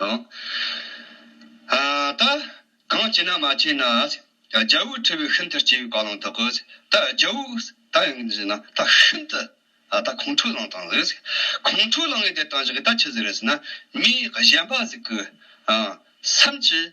དང། ད་གང་བྱས་ན་མ་བྱས་ན། རྒྱལ་བུ་ཁྲི་བོས་ཤིན་ཏུ་སྐྱེ་བའི་བཀའ་བླང་དག་གོ། ད་རྒྱལ་བུ་ད་ཡང་ཅི་བྱས་ན། ད་ཤིན་ཏུ་ད་ཁོང་ཁྲོའི་བླང་དང། ཁོང་ཁྲོའི་བླང་ངས་དེ་བཏང་ཞིག་གི་ད་ཅི་ཟེར་བས་ན། མིའི་གཞན་པ་ཟིག་གི། སེམས་ཀྱིས།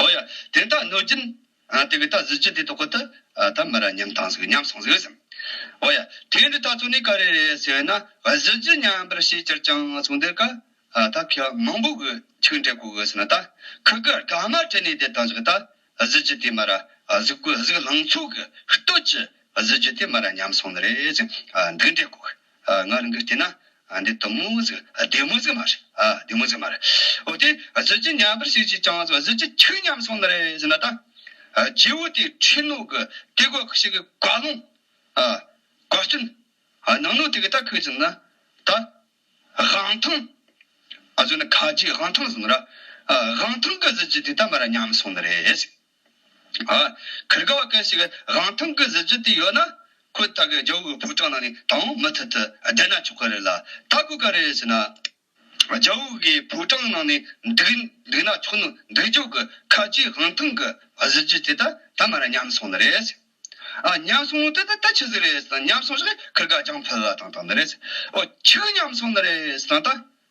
ཨོ་ཡ། དེ་དག་གནོད་སྦྱིན། དེ་གི་དག་གཟི་བརྗིད་དེ་དོ་ཁོ་ཐི། ཐ་མི་ར་མཉམ་ཐང་ཟིག་མཉམ་སོང་ཟིག་སམ། ཨོ་ཡ། དེ་འདྲི་ད་ཚོ་ནི་ག་རེ་རེད་ཟེར་ན། གཟི་བརྗིད་མཉམ་པར་ཤེས་ཅིར་ཅང་སོང་འདིར་ག། ད་ཁྱི་མང་པོ་གི་ཆིག་འདྲེ་གོ་གི་ཟིན་ན་ད། ཁི་གི་དགའ་མ་དྲི་ནི་དེ་དང་ཟིག་ད། གཟི་བརྗིད་དེ་མ་ར། གཟིག་གོ་ཟིག་ལང་ཚོ་གི། སྟོད་ཀྱི། གཟི་བརྗིད་དེ་མ་ར་མཉམ་སོང་ནི་རེད་ཅིང། འདི་འདྲེ་གོ་གི། ང་རང་གིས་བལྟས་ན། འདི་དུམ་མོ་ཟིག་སྡེར་མོ་ཟིག་མ་རེད། སྡེར་མོ་ཟིག་མ་རེད། འོ་དེ་གཟི་བརྗིད་ཉམས་པར་ཞིག་ཅིག་ཅང་ཟེར་བ་གཟི་བརྗིད་ཆུ་ཉམས་སོང་ན་རེད་ཟེར་ན་ད། རྗེ་བོ་དེའི་ཁྲིད་ནོར་གྱི་དེ་གོ་ཞིག་གི་དགའ་ལུང། དགའ་སྐྱོན། ནང་ནོར་དེ་གི་ད་ཁུལ་ཟིན་ན། ད། དབང་ཐང། གཟོད་ན་ཁ་ཆེའི་དབང་ཐང་ཟིན་ན་ར། དབང་ཐང་གི་གཟི་བརྗིད་དེ་ད་མ་ར་ཉམས་སོང་ན་རེད་ཟེར། གྷིར་ག་བ་སྐད་ཞིག་རང་ཐང་གི་གཟི་བརྗིད་དེ་ཡོད་ན། ཁོས་ད་གའི་རྒྱལ་བོ་གི་ཕོ་བྲང་ནང་ནས་དང་མི་ཐུག་ཐུག་བསྡད་ན་ཆོག་གི་རེད་ལ། ད་གོ་ག་རེ་བྱས་ན། རྒྱལ་བོ་གི་ཕོ་བྲང་ནང་ནས་འདུག་འདུག་ན་ཆོག་ནོ་འདུག་རྒྱུག་གི་ཁ་ལྕེའི་རང་ཐང་གི་གཟི་བརྗིད་དེ་ད་ད་མར་ཉམས་སོང་ནི་རེད། ཨ་ཉམས་སོང་ནི་ད་ད་ཆི་ཟིག་རེད་ཟེར་ན་ཉམས་སོང་ཞིག་གྷིར་ག་རྒྱང་ཕུལ་བ་དང་དང་ནི་རེད། ཨོ་ཆིག་ཉམས་སོང་ནི་རེད་ཟེར་ན་ད།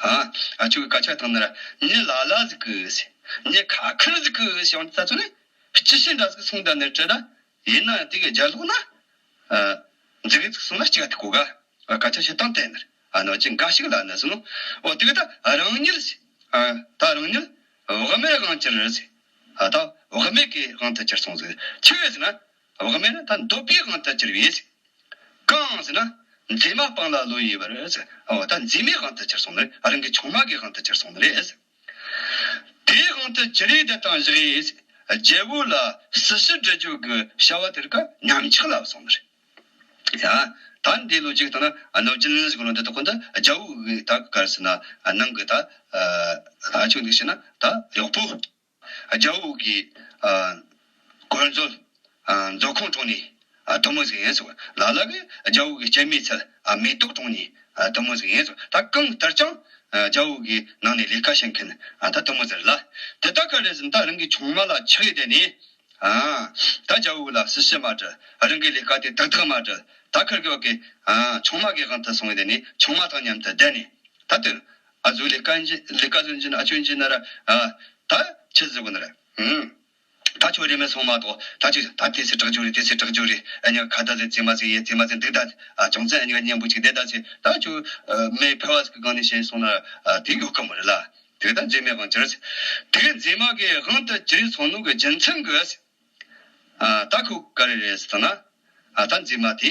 ཁྱོད་ཀྱི་སྐད་ཆ་དང་ནི་ཉི་ལ་ལ་ཟིག་གིས། ཉི་ཁ་ཁར་ཟིག་གིས་ཡང་ད་ཚོད་ནི། ཅི་ཞིག་འདྲ་ཟིག་གསུངས་དང་ནི་བྲིས་ན། ཡིན་ན་དེ་གའི་རྒྱ་ལོག་ན། འཛིག་གི་ཟིག་གསུངས་ན་ཅི་ག་དེ་གོ་ག། སྐད་ཆ་བཤད་སྟངས་དེ་ནི། ནོར་གྱི་འགའ་ཞིག་ལ་ནི་ཟིན་ནོ། འོ་དེ་ག་ད་རང་ཉིད་ཟིག། ད་རང་ཉིད། བག་མེད་དབང་གྱིར་ཟིག། ད་བག་མེད་ཀྱི་དབང་དུ་གྱིར་སོང་ཟིག་ཁྱི་གས་ཟིག་ན། བག་མེད་ན་ད་འདོད་པའི་དབང་ད་ཅིར་བས། གང་ཟེར་ན། མཛེས་མ་སྤངས་ལ་བློ་ཡི་བར། ད་མཛེས་མའི་དབང་ད་ཅིར་སོང་ནི། རང་གི་ཆུང་མ་གི་དབང་ད་ཅིར་སོང་ནི། དེའི་དབང་ད་ཅི་རེད་ད་དང་བཞག་ཡས། རྒྱལ་བུ་ལ་སྲིད་ཞི་འབྲི་རྒྱུ་གི་བྱ་བ་དེར་ཀ་ཉམས་ཆག་ལ་སོང་ནི། ད་འདི་ལོ་གཅིག་དང་ན་ནོ་ཅིན་ཟིག་ལོ་འདི་ད་ཁོ་འདི་རྒྱལ་བུ་གི་ད་གར་སི་ན་ནང་གི་ད་ད་ཆུག་འདུག་བྱས་ན་ད་ཡག་པོ། རྒྱ་བོད་དབུས་ཀྱི། གོལ། མཛོད་ཁང་གྲོང་ནི། དུ་མ་ཟིག་ཡིན་སོགས། ལ་ལ་གི། རྒྱ་བོད་ཀྱི་སྤྱན་མིག་ཚད། མེ་ཏོག་གྲོང་ནི། དུ་མ་ཟིག་ཡིན་སོགས། ད་གང་ལྟར་ཀྱང། རྒྱ་བོད་ཀྱི་ནང་ནས་ལས་ཀ་བྱེད་མཁན། ད་དུ་མ་ཟེར་ལ། དེ་ད་ག་རེ་ཟིན་ད་རང་གི་ཆུང་མ་ལ་ཆགས་ཡོད་དེ་ནི། ད་རྒྱ་བོད་ལ་སུ་ཞིག་མ་བྲལ། རང་གི་ལས་ཀ་དེ་དག་དག་མ་བྲལ། ད་ཁར་གི་བ་གི། ཆུང་མ་གི་དབང་དུ་སོང་ཡོད་དེ་ནི་ཆུང་མ་དང་མཉམ་དུ་བསྡད་ནས། ད་དུ། ཨ་ཛུ་ལི་ཀ་ཇི་ལི་ཀ་ཛུན་ཇིན་ཨ་ཅོན་ཇི་ན་ར་ཨ། ད་ཆི་ཛི་གུ་ན་ར་ཧུ། ད་ཆོ་རེ་མེ་སོང་མ་ཏོ་ད་ཆི་ད་དེ་སི་དྲག་ཇོ་རེ་དེ་སི་དྲག་ཇོ་རེ་ཨ་ཉ་ཁ་ད་ཟེ་ཛི་མ་ཟེ་ཡེ་ཛི་མ་ཟེ་འདུག་ད་ཨ་ཅོང་ཙེ་ཨ་ཉ་ཀ་གཉན་པོ་ཅིག་དེ་ད་ཆི་ད་ཆོ་མེ་ཕེ་བ་སི་གི་གང་ནས་ཤེས་སོང་ན་ར་ཨ་དེ་ཡོ་ཀ་མོ་རེ་ལ་དེ་ད་ཛེ་མེ་གང་ཅི་ར་ཟེ། དེ་ཛེ་མ་གི་ཧང་ད་ཅི་རེ་སོང་ནུ་གི་ཇི་མཚན་གི་ཨ་ཟེ། ཨ་ད་ཁུ་ག་རེ་རེ་ཟེ་ད་ན་ཨ་ད་ཛེ་མ་དེ་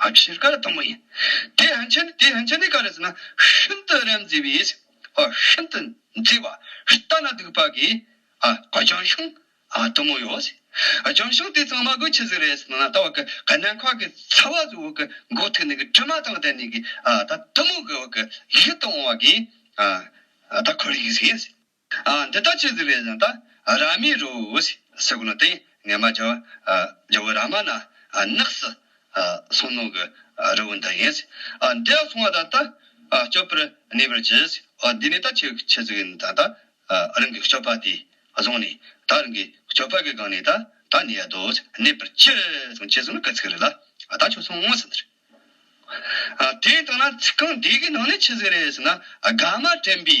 བཞིར་དཀའ་ལ་དང་པོ་ཡིན། དེ་ཧན་ཆ་ནི་དེ་ཧན་ཆ་ནི་ག་རེ་ཟེར་ན་ཤིན་ཏུ་རབ་མཛེས་པའི། ཤིན་ཏུ་མཛེས་པ་ལྟ་ན་སྡུག་པ་གི། ལྗང་ཤིང་དུ་མོ་ཡོད། ལྗང་ཤིང་དེ་ཚང་མ་གི་ཆུ་ཟིག་རེད་ཟེར་ན་ད་བར་གི་ག་ནན་ཁག་གི་ཚ་བ་ཟིག་འོག་གི་མགོ་ཐིག་ནས་གི་དྲི་མ་དང་ལྡན་ནས་གི་ད་དུ་མོ་གི་འོག་གི་ཡིད་དུ་འོང་བ་གི་ད་ཁོར་ཡིག་ཟིག། འདི་ལྟར་ཅི་ཟེར་བའི་ལན། རཱ་མི་རོ་ཨུསི་སི་ཀུ་ན་ཏེ་ངེས་མ་ཇོ་བོ་རཱ་མ་ན་ནགས་སུ་སོང་ནོ་གི་རི་བོ་འདི་ཡིན། འདི་སོང་བ་ད་ལྟ་སྐྱོབ་པར་གནས་པར་གྱིས། འདི་ནི་ད་ཅིག་ཆེ་ཟིག་ཡིན་ད་རང་གི་སྐྱོབ་པ་དེས་བཟུང་ནས་ད་རང་གི་སྐྱོབ་པ་གི་སྒང་ནས་ད་ནི་ཡལ་དུ་གནས་པར་གྱིས་ཅེས་གསུངས་ན་ག་ཚིག་རེད་ལ་ད་ཆོག་སོང་ངོ་ཟེར། དེ་ལྟ་ན་ཚིག་རྐང་འདི་གི་ནང་ནས་ཅི་ཟེར་རེད་ཟེར་ན་དགའ་མ་དྲན་པའི་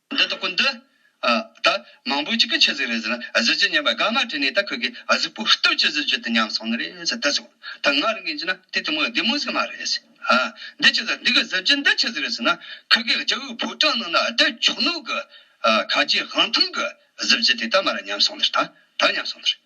འདི་ལྟ་ཀུན་འདི། ད། མང་པོའི་ཅི་གི་ཆི་ཟིག་རེད་ཟེར་ན་གཟི་བརྗིད་སྙན་པ་དགའ་མ་དྲན་ནས་ད་ཁོས་ཀི་གཟིག་པོ་ལྟོས་ཅི་གཟི་བརྗིད་དུ་ཉམས་སོང་ནི་རེད་ཟེར་ལྟ་སོང། ད་ང་རང་གིས་འཇི་ན་དེ་དེ་མོ་བདེ་མོ་ཟིག་མ་རེད་ཟེར། འདི་ཆི་ཟིག་འདི་གི་གཟི་བརྗིད་འདི་ཆི་ཟིག་རེད་ཟེར་ན་ཁོས་ཀི་རྒྱ་བོའི་ཕོ་བྲང་ནང་ན་བདེ་མཆོག་ནོར་གི། གངས་ཅན་དབང་ཐང་གི་གཟི་བརྗིད་དེ་ད་མ་ར་ཉམས་སོང་ནི་རེད་ད། ད་ཉམས་སོང་ནི་རེད།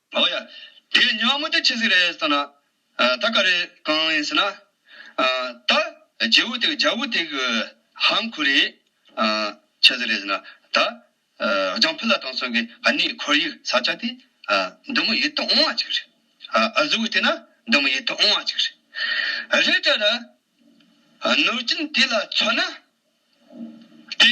ཨོ་ཡ། དེ་ཉི་མ་མུ་ཏིག་ཆེ་ཟིག་རེད་ཟེར་ན། ད་ག་རེ་གང་ཡིན་ཟེར་ན། ད་རྗེ་བོ་ཏིག་རྒྱ་བོ་ཏིག་ཧམ་ཁུ་རེ། ཆེ་ཟིག་རེད་ཟེར་ན། ད་རྒྱང་ཕུ་ལ་ཐང་སོགས་ཀྱི་ཨ་ནེའི་ཁོར་ཡུག་ས་ཆ་དེ། འདི་མོ་ཡིད་དུ་འོང་བ་ཅིག་རེད། ཨ་ཟུག་བལྟས་ན་འདི་མོ་ཡིད་དུ་འོང་བ་ཅིག་རེད། རེད་དྲ་ར། གནོད་སྦྱིན་དེ་ལ་མཚོན་ན། དེ།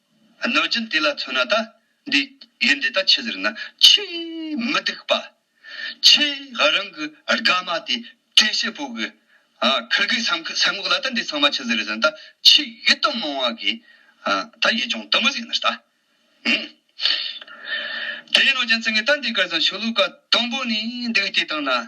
གནོད་སྦྱིན་དེ་ལ་མཚོན་ན་ད་འདི་ཡིན་འདི་ལྟ་ཆེ་ཟེར་ན་ཆེས་མི་སྡུག་པ། ཆེས་ཧ་རང་གི་དགའ་མ་དེ་བཀྲེས་ཤེས་པོ་གི། ཁིར་གི་ས་འགོག་ལ་ད་འདི་ཚང་མ་ཆེ་ཟེར་ཟེར་ན་ད་ཆེས་ཡིད་རྟོན་མང་བ་གི། ད་ཡིད་སྦྱོང་དུ་མི་ཟིག་ན་ད། དེ་ཡིན་ནོ་རྒྱུ་མཚན་གི་ད་འདི་གར་ཟང་ཆོས་ལུགས་ཀ་དང་པོ་ནི་འདུག་དེ་དང་ན་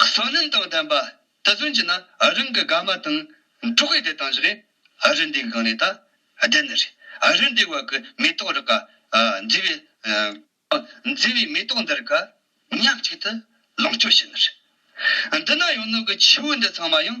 བསོད་ནམས་དང་ལྡན་པ་དེ་ཚུན་གྱི་ན་རིང་གི་དགའ་མ་དང་འབྲོག་ཡུལ་དེ་དང་བཞི་གའི་རི་འདེགས་སྒང་ནས་ད་ལྡན་ནི་རི་རི་འདེགས་བར་གྱི་མེ་ཏོག་རི་ཁ་མཛེས་པའི་མཛེས་པའི་མེ་ཏོག་འདི་རི་ཁ་ཉག་གཅིག་ཏུ་ལོངས་སྤྱོད་བྱེད་ནི་རི། འདི་ན་ཡང་ནུབ་ཀྱི་ཆུ་བོ་འདི་ཚང་མ་ཡང་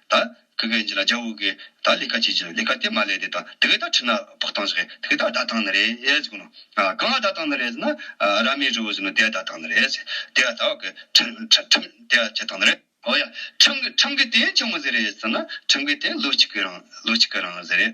ད་གི་གན་རྒྱ་ལ་རྒྱ་བོད་གི་ད་ལས་ཀ་བྱེད་ཀྱི་ལས་ཀ་དེ་མ་ལས་དེ་ད་དེ་གི་ད་ཁྲི་ན་ཕག་ཐང་ཞིག་གི་ད་ད་ཐང་ནི་རེད་གོ་ནོ། གང་གི་ད་ཐང་ནི་རེད་ཟེར་ན་ར་མའི་རི་བོ་ཟེར་ནོ་དེ་ད་ཐང་ནི་རེད་ཟེར། དེ་ད་བག་གི་ཁྲིམས་དེ་ད་ཁྱེད་ཐང་ནི་རེད། ཨོ་ཡ་ཁྲིམས་གི་ཁྲིམས་གི་དེ་ཆུང་ངུ་ཟེར་རེད་ཟེར་ན་ཁྲིམས་གི་དེ་ལོ་གཅིག་གི་རང་ལོ་གཅིག་གི་རང་ཟེར་རེད།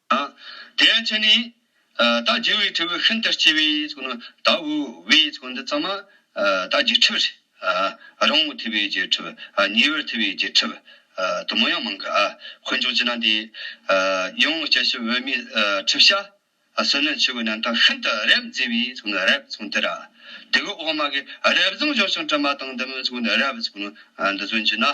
དེ་ཡང་ཅི་ནས། བདག་རྒྱུ་བའི་ཁྲོ་བོས་ཤིན་ཏུ་སྐྱེ་བས། དག་བུ་བས་འདི་ཙམ་མ། བདག་རྒྱུ་ཁྲི་བས། རང་ངོ་ཐུལ་བས་རྒྱུ་ཁྲི་བས། ཉེ་བར་ཐུལ་བས་རྒྱུ་ཁྲི་བས། དུ་མ་ཡང་མང་གི། འཁོན་མཆོག་ཅི་ན་འདི། ཡང་ངོ་སྐྱེ་ཤི་བོད་མིའི། ཁྲི་བྱ། བསོད་ནམས་ཆོས་གོས་རྣམ་དག་ཤིན་ཏུ་རབ་མཛེས་པའི། རབ་མཚུངས་དེ། དེ་གོས་འོག་མ་གི། རབ་བཟང་ཞང་ཞུང་དྲི་མ་དང་ལྡན། རབ། འདི་ཚོན་གྱི་ནི།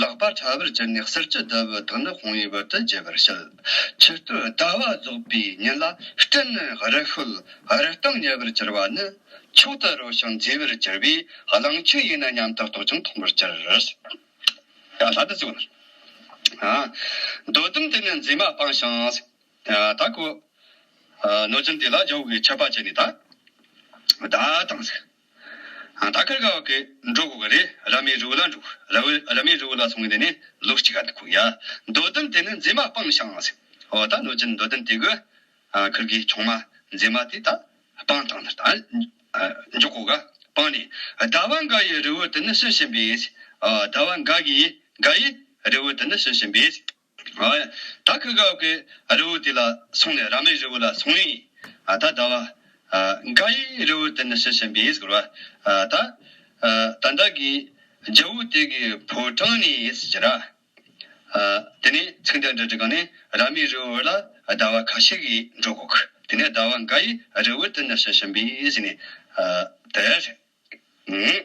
ལག་པ་ཕྲ་བར་གྱུར་ནས་གསེར་གྱི་རྡོ་བུ་དང་ནི་ཧོང་ཡིག་བར་དུ་བརྗེ་བར་བྱེད། ཕྱི་སྟོད་ཟླ་བ་རྫོགས་པའི་ཉིན་ལ་སྤྲིན་ནི་རི་ཤོད་རི་སྟེང་ཉེ་བར་གྱུར་པ་ནི། མཆོག་ཏུ་རོལ་ཞིང་མཛེས་པར་གྱུར་པས་གླང་ཆེན་ཡིན་ན་སྙམ་དུ་རྟོག་ཅིང་མཐོང་བར་གྱུར། རྡོ་ཟླུམ་དེ་ནི་མཛེས་མ་སྤངས་ཤིང། གནོད་སྦྱིན་དེ་ལ་ཇོ་བོས་མཆོད་པ་བྱས་ནས་ད་དང། ད་ཁར་ག་བ་གི་འགྲོ་གོ་གི་རེད་ར་མའི་རུའུ་ལ་འགྲོ་གི་ར་བོའི་ར་མའི་རུའུ་ལ་སོང་གི་འདི་ནི་ལོ་གཅིག་ག་འདུག་གོ་ཡ་འདོད་བསྟུན་དེ་ནི་མཛེས་མ་སྤང་ཤང་ཟེར་ཨོ་ད་ནོར་ཅིན་འདོད་བསྟུན་དེ་གི་ཁུར་གི་ཆུང་མ་མཛེས་མ་དེ་ད་སྤང་ཐང་འདིར་ད་འཇོག་གོ་ག་སྤང་ནས་ཟླ་བ་འགའ་ཡི་རི་བོ་དེ་ནི་ཤི་བཞིན་པས་ཟླ་བ་འགའ་གི་འགའ་ཡི་རི་བོ་དེ་ནི་ཤི་བཞིན་པས། ད་ཁི་གའོ་ཀེ་རི་བོ་དེ་ལ་སོང་ནས་ར་མའི་རི་བོ་ལ་སོང་ནི། ད་ད་བ། ག་ཡི་རི་བོ་དེ་ནི་ཤི་ཤི་འབིས་གུར་བ། ད། ད་ད་གི་རྒྱལ་བོ་དེ་གི་བུ་ཀྲང་ནི་ཡིས་ཇི་ར། དེ་ནི་ཚིག་འདི་འདྲ་དྲི་གང་ནི་ར་མའི་རི་བོ་ལ་ད་བ་ག་ཤི་གི་འགྲོ་གོ་ཁི་དེ་ནི་ད་བ་ག་ཡི་རི་བོ་དེ་ནི་ཤི་ཤི་འབིས་ནི། དེ་རེད།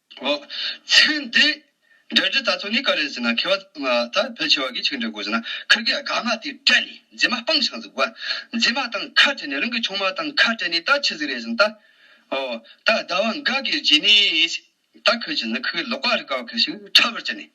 གོ། ཚན་འདི་འདྲ་འདྲི་ད་ཚོ་ནི་ག་རེ་ཟེར་ན་ཁེ་བ་ད་ཕལ་ཆེ་བ་གི་ཆིག་འདྲི་དགོས་ཟེར་ན་ཁིར་གི་དགའ་མ་དེ་སྤྲད་ནས་མཛེས་མ་སྤང་ཤང་ཟིག་གོ། མཛེས་མ་དང་ཁ་བྲལ་ནས་རང་གི་ཆུང་མ་དང་ཁ་བྲལ་ནས་ད་ཆི་ཟིག་རེད་ཟིན་ད། ཨོ། ད་ཟླ་བ་འགའ་གིར་བརྗེས་ནས། ད་ཁིར་གྱིས་ཟིན་ཁིར་གི་ལོག་པ་རི་ག་བ་ཁིར་ཞིག་ཁྲ་བར་བྱས་ནས།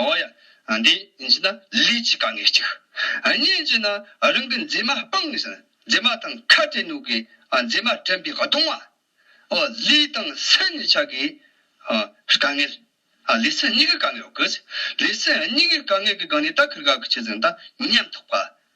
ཨོ་ཡ། འདི་ཉིད་ན་ལུས་ཀྱི་དཀའ་ངལ་གཅིག། གཉིས་ཉིད་ན་རང་གི་མཛེས་མ་སྤང་ངེས། མཛེས་མ་དང་ཁ་བྲལ་ནུས་ཀྱི་མཛེས་མ་དྲན་པའི་གདུང་བ། ཨོ། ལུས་དང་སེམས་གཉིས་ཆ་གི་དཀའ་ངལ། ལུས་སེམས་གཉིས་ཀའི་དཀའ་ངལ། ལུས་སེམས་གཉིས་ཀའི་དཀའ་ངལ་གྱི་སྒང་ནས་ད་ཁིར་ག་གི་ཆེད་ཟིན་ད་ཉམས་ཐག་པ།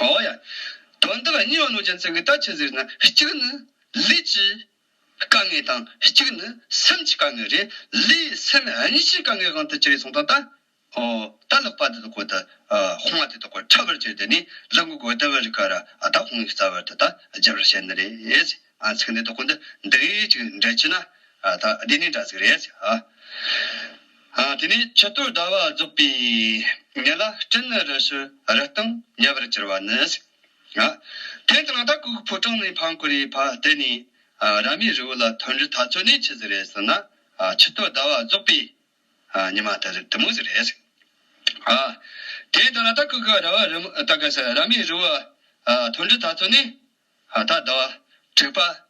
འོ་ཡ། དོན་འདི་ལ་གཉིས་པ་ནོར་རྒྱལ་མཚན་གྱི་ལྟ་ཕྱིར་ཟེར་ན་གཅིག་ནི། ལུས་ཀྱི་དཀའ་ངལ་དང་གཅིག་ནི་སེམས་ཀྱི་དཀའ་ངལ་རེད། ལུས་སེམས་གཉིས་ཀྱི་དཀའ་ངལ་གང་དུ་ཅི་རེད་གསུངས་དང་ལྟ། འོ། ལྟ་ལོག་པ་དེ་དག་གོ་ད། ཧོང་བ་དེ་དག་གོ་ཁྲ་བར་གྱུར་དེ་ནི་ལུག་གུ་གོ་ལྟེ་བར་ག་ར་ཨ་ད་ཧོང་གི་རྩ་བར་དེ་དག་རྒྱབ་ར་བྱེད་ནི་རེད། ཨ་ཚིག་འདི་དག་གོ་འདི་འདི་གཉིས་ཅིག་འདྲ་གྱི་ན། ད་འདི་ནི་འདྲ་ཚིག་རེད། དེ་ནས་ཕྱི་གཏོར་ཟླ་བ་རྫོགས་པའི་ཉིན་ལ་སྤྲིན་རི་ཞུ་རི་སྟེང་ཉེ་བར་གྱུར་བ་ནི། དེང་དང་ད་ཀོའི་ཕོ་བྲང་ནས་འཕང་བཀུར་བས་ཕ་བལྟས་ནས་ར་མའི་རི་བོ་ལ་ཐོན་རི་ཐ་ཚོད་ནས་ཆི་ཟིག་རེད་ཟེར་ན་ཕྱི་གཏོར་ཟླ་བ་རྫོགས་པའི་ཉི་མ་དེར་དུ་མོ་ཟིག་རེད། དེང་དང་ད་ཀོའི་ར་བ་རི་མོ་ད་ཀ་ཟེར་ར་མའི་རི་བོ་ལ་ཐོན་རི་ཐ་ཚོད་ནས་ད་ཟླ་བ་དྲུག་པ་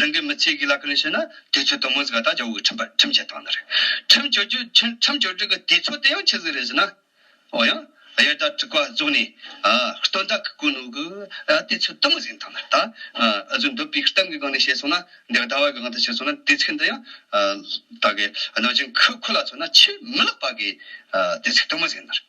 རང་གི་མི་ཚེ་གི་ལག་ཁྱེར་ནས་བཤད་ན་དུས་ཚོད་དུ་མོ་ཟིག་ལ་ད་ཇོ་བོ་གི་ཁྲིམས་བཅད་བཏང་ན་རེད། ཁྲིམས་བཅོ་བརྒྱུད་ཁྲིམས་བཅོ་བརྒྱུད་གི་དུས་ཚོད་དེ་ཡང་ཆི་ཟིག་རེད་ཟེར་ན། འོ་ཡང། དབྱར་ཟླ་དྲུག་པ་རྫོགས་ནས། སྟོན་ཟླ་གི་དགུན་ནུབ་ཀྱི་དུས་ཚོད་དུ་མོ་ཟིག་བཏང་ན་རེད། ད་གཟོད་འདོད་པའི་གཏམ་གི་སྒང་ནས་བཤད་སོང་ན་འདི་ཟླ་བ་གི་སྒང་དུ་བཤད་སོང་ན་དུས་ཚིགས་འདི་ཡང། ད་གི་གནོད་སྦྱིན་ཁོ་ལ་མཚོན་ན་ཆེས་མི་ལེགས་པ་གི་དུས་ཚིགས་དུ་མོ་ཟིག་ཡིན་ན་རེད།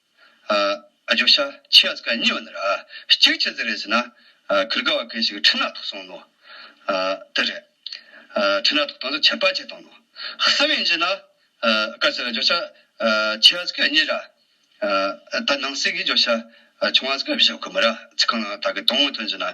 བརྗོད་བྱ་ཆེ་བ་ཚིག་གཉིས་པ་འདི་རེད། གཅིག་ཅི་ཟེར་རེད་ཟེར་ན། གུར་དགའ་བ་གང་ཞིག་ཁྲི་སྣ་ཐོག་སོང་ནོ། དེ་རེད། ཁྲི་སྣ་ཐོག་སྟོང་ཚོ་ཆད་པ་ཆད་སྟོང་ནོ། གསང་བའི་འཇིག་ན། བཀའ་ཟེར་བརྗོད་བྱ་ཆེ་བ་ཚིག་གཉིས་རེད། ད་ནང་གསེས་ཀྱི་བརྗོད་བྱ་ཆུང་བ་ཚིག་བཞི་དགོས་མི་རེད། ཚིག་གང་ལའང་ད་གི་སྟོང་བའི་དོན་འཇིག་ན།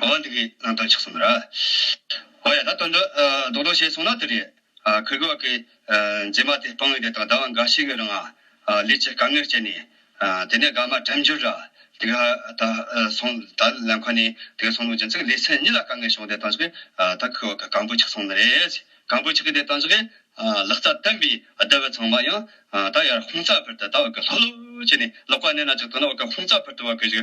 གོ་བ་འདི་གའི་ནང་དོན་ཆགས་སོང་ར། ཨོ་ཡ་ད་དོན་འདི་རྡོག་རྡོག་བྱས་སོང་ན་དེ་རེད། ཁུལ་བགོས་ཀྱི་རྗེས་མ་དེ་སྤང་བའི་དེ་དང་ཟླ་བ་འགའ་ཞིག་གི་རིང་ལས་ཀྱི་དཀའ་ངལ་སྤྱད་ནས། དེ་ནས་དགའ་མ་དྲན་འགྱུར་ར་དེ་ག་ད་སོང་ད་ལན་ཁོ་ནས་དེ་ག་སོང་ལུགས་ཀྱི་ཚིག་ལས་ཚན་གཉིས་ལ་དཀའ་ངལ་བྱུང་དེ་དང་ཆིག་གིས་ད་ཁུལ་བགོས་ཀྱི་གང་བུ་ཆགས་སོང་ནི་རེད། གང་བུ་ཆགས་ཀྱི་དེ་དང་ཆིག་གིས་ལག་རྩལ་བསྟན་པའི་སྡེ་བ་ཚང་མ་ཡང་ད་ཡར་ཧུང་རྩ་བར་དུ་ད་བགོས་ཀྱི་ལྷོག་ལྷོག་བྱས་ནས་ལོག་པ་གནས་ན་ཅིག་དོན་ན་བགོས་ཀྱི་ཧུང་རྩ་བར་དུ་བགོས་ཀྱི།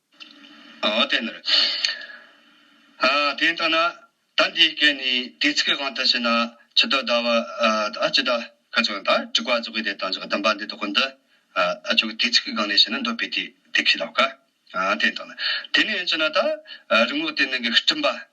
ཨོ་དེ་ནར་ཨ། དེ་ཡིན་ཐ་ན། ད་འདིའི་སྐད་ནི་དུས་ཚིགས་གང་དུ་བྱས་ན་ཇི་ལྟར་བཟླ་བ་ཨ་ཇི་ལྟར་ཁ་ཚོན་ལྟར་དྲུག་པ་རྫོགས་པའི་དེ་དང་བཞག་བསྡམས་པ་འདི་དག་གོ་འདི་ཨ་ཆོས་ཀྱི་དུས་ཚིགས་གང་ནས་བྱས་ན་འདོད་པའི་དུས་དེ་ཁས་ལབ་ཀ། ཨ་དེ་ཡིན་ཐ་ན། དེ་ནི་ཡིན་ཅེ་ན་ད་རི་ངོགས་དེ་ནང་གི་སྤྲིན་པ་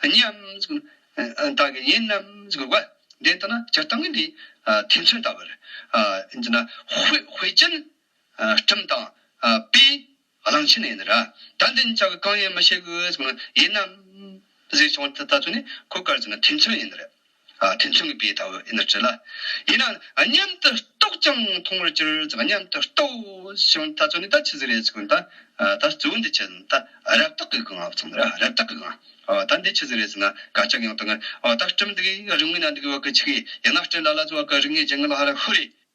སྙམ། བདག་གིས་ཡིན་ནམ་དགོས་པ་དེ་ལྟ་ན་སྤྱིར་བཏང་གི་འདི་དེ་མཚོན་ལྟ་བུར། ཧུད་ཅན། ཁྲིམས་དང། པའི། གླང་ཆེན་ཡིན་ར། ད་འདི་ཅག་གི་གང་ཡིན་མི་ཤེས་གི། ཡིན་ནམ། ཟེར་བྱུང་བ་དེ་ལྟ་བུ་ནི་གོ་དཀར་ཅན་དེ་མཚོན་ཡིན་ར། དེ་མཚུངས་ཀྱི་དཔེ་ལྟ་བུ་འདིར་བྲི་ལ། ཡིན་ནའང་མཉམ་དུ་རྟོགས་ཀྱང་མཐོང་བར་གྱུར་ཙང་མཉམ་དུ་རྟོགས་ཤིང་ལྟ་ཚུལ་ནི་ད་ཆི་ཟིག་རེད་ཟེར་གྱི་ད་གཙོ་འདི་ཆི་ཟིག་ད་རབ་བཏགས་ཀྱི་གང་བ་ཚང་རབ་བཏགས་ཀྱི་གང་ད་འདི་ཆི་ཟིག་རེད་ཟེར་ན་ག་ཅག་ཡང་དང་ད་སྤྲིམ་འདུག་རིང་མིན་ན་འདུག་བ་གི་ཆི་གི་ཡིན་ན་སྤྲིན་ལ་ལ་ཟེར་བ་གི་རིག་ངེས་ཅན་གི་ལ་ཧ་ར་ཧུ་རེད།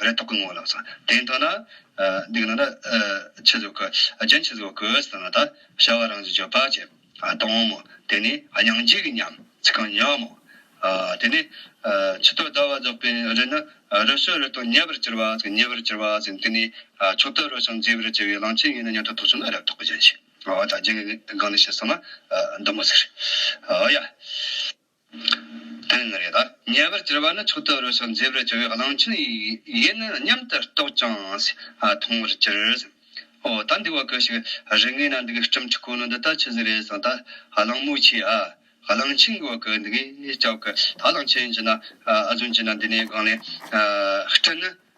རེ་དོགས་ཀྱི་ངོ་ལ་སོང། དེ་མཐོང་ན། འདི་གནང་ན། ཆུ་ཟོ་གི། རྒྱན་ཆུ་ཟོ་གི། ཟེར་ན་ད། བྱ་བ་རང་བཞིན་བརྗོད་པ་བྱེད། དོང་མོ། དེ་ནི། སྙིང་རྗེ་གི་ཉམས། ཚིག་རྐང་ཉམས་མོ། དེ་ནི། ཆུ་སྟོད་ཟླ་བ་རྫོགས་པའི་རི་ནི། རི་སོལ་རི་སྟོང་ཉེ་བར་གྱུར་བ། ཉེ་བར་གྱུར་བ་ཟེར་དུས་ནི། ཆུ་སྟོད་རོ་ཞིང་མཛེས་པར་བྱེད་པའི་གླང་ཆེན་ཡིན་ན་སྙན་གྲགས་ཐོག་ཆུ་ནི་རེ་དོགས་ཀྱི་རྒྱན་ཞིག། ད་རྒྱན་གྱི་སྒང་ནས་བཤད་སོང་ན། མདུང་མོ་ཟེར། ཡ། དོན་ནི་རེད། ཉེ་བར་གྱུར་པ་ནི་མཆོག་ཏུ་རོལ་ཞིང་མཛེས་པར་གྱུར་བའི་གླང་ཆེན་ཡིན་ནི་སྙམ་དུ་རྟོག་ཅིང་མཐོང་བར་གྱུར། འོ་ད་འདི་བ་ཀུ་ཞིག་རི་ངོས་ན་འདུག་གི་སྤྲིན་ཕྲུག་ཁོ་ནི་འདི་ལྟར་ཆུ་ཟིག་རེད་བསམ་ད་གླང་མོ་ཆེ་ཨ། གླང་ཆེན་གྱི་བ་ཀུ་འདི་གས་ལྕགས་ཀྱི་ད་གླང་ཆེན་གྱི་ན་ཨ་རྫུན་གྱི་ན་འདི་ནས་སྒང་ལས་སྤྲིན་ནི།